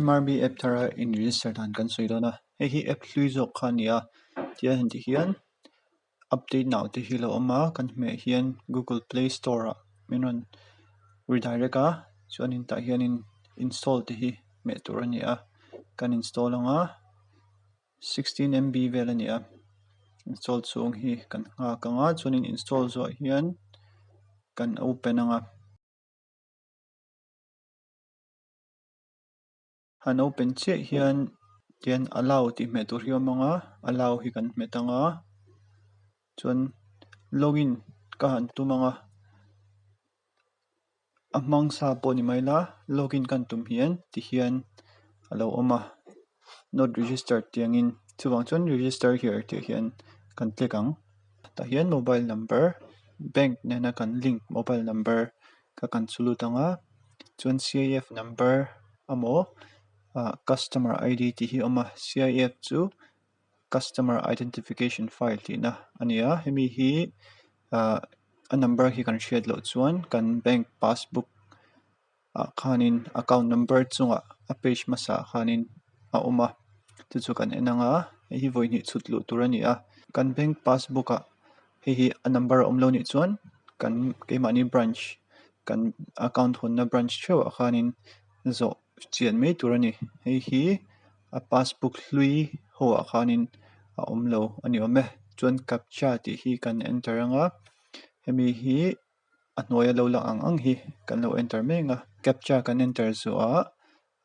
mrb app thar a in register dan kan sawi dawn a hei hi app hlui zawk kha nia tih a han tih hian update nau te hi a lo awm a kan hmeh hian google play store ah min rawn redirect a chuanin tah hianin install te hi hmeh tur a ni a kan install ang a sixteen MB vel a ni a install chhung hi kan nghak ang a chuanin install zawh hian kan open ang a. Han open chiah hian tian allow tih hmeh tur hi awm ang a allow hi kan hmet ang a chuan login ka han tum ang a a hmang sa pawh ni mai la login ka han tum hian ti hian a lo awm a not registered tih ang in chuvang chuan register here tih hian kan click ang tah hian mobile number bank nena kan link mobile number -- ka kan chu lut ang a chuan CIF number amaw customer ID tih hi a awm a CIF chu customer identification file tih na a ni a hemi hi ah a number hi kan hriat loh chuan kan bank passbook ah khan in account number chungah a page hmasa khan in a awm a chu chu kan en ang a hei hi vawiin chhut luh tur a ni a kan bank passbook ah-- hei hi a number a awm lo nih chuan kan keimahni branch kan account hawn na branch theuh ah khan in zawh chian mai tur a ni hei hi a passbook hlui ho ah khan in a awm lo a ni awm e chuan captcha tih hi kan enter ang a hemi hi a hnuaia lo lang ang ang hi kan lo enter mai ang a captcha kan enter zuah ah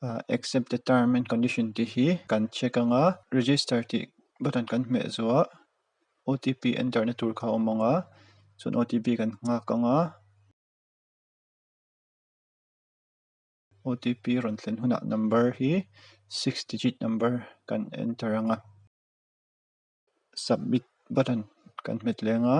ah accept the term and condition tih hi kan check ang a register tih button kan hmeh zuah. otp enter na tur kha a awm ang a chuan otp kan nghak ang a otp rawn thlen hunah number hi six digit number kan enter ang a submit button kan hmet leng a.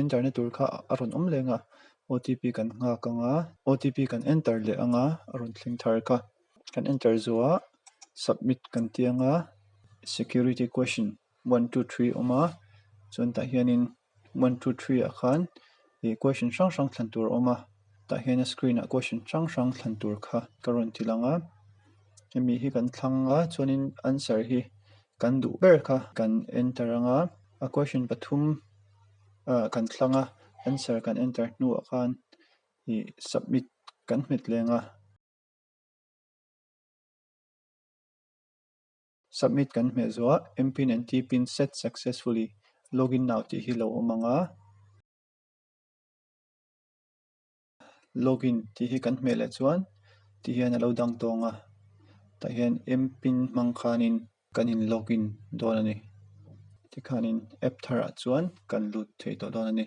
Enter na tur kha a rawn awm leng a, OTP kan nghak ang a, OTP kan enter leh ang a, a rawn thleng thar kha kan enter zuah a, submit kan tia ang a, security question one two three a awm a, chuan tah hianin one two three ah khan ih question hrang hrang thlan tur a awm a, tah hian a screen ah question hrang hrang thlan tur kha ka rawn ti lang a, hemi hi kan thlang a chuanin answer hi Kan duh ber kha kan enter ang a, a question pathum ah kan thlang a, answer kan enter hnuah khan ih submit kan hmet leng a. Submit kan hmeh zuah, mpin and tpin set successfully, login now tih hi lo awm ang a. Login tih hi kan hmeh leh chuan tih hian alo dang tawng a tah hian m pin hmang khanin kan in login dawn a ni tikhanin app thar ah chuan kan lut theih tawh dawn a ni.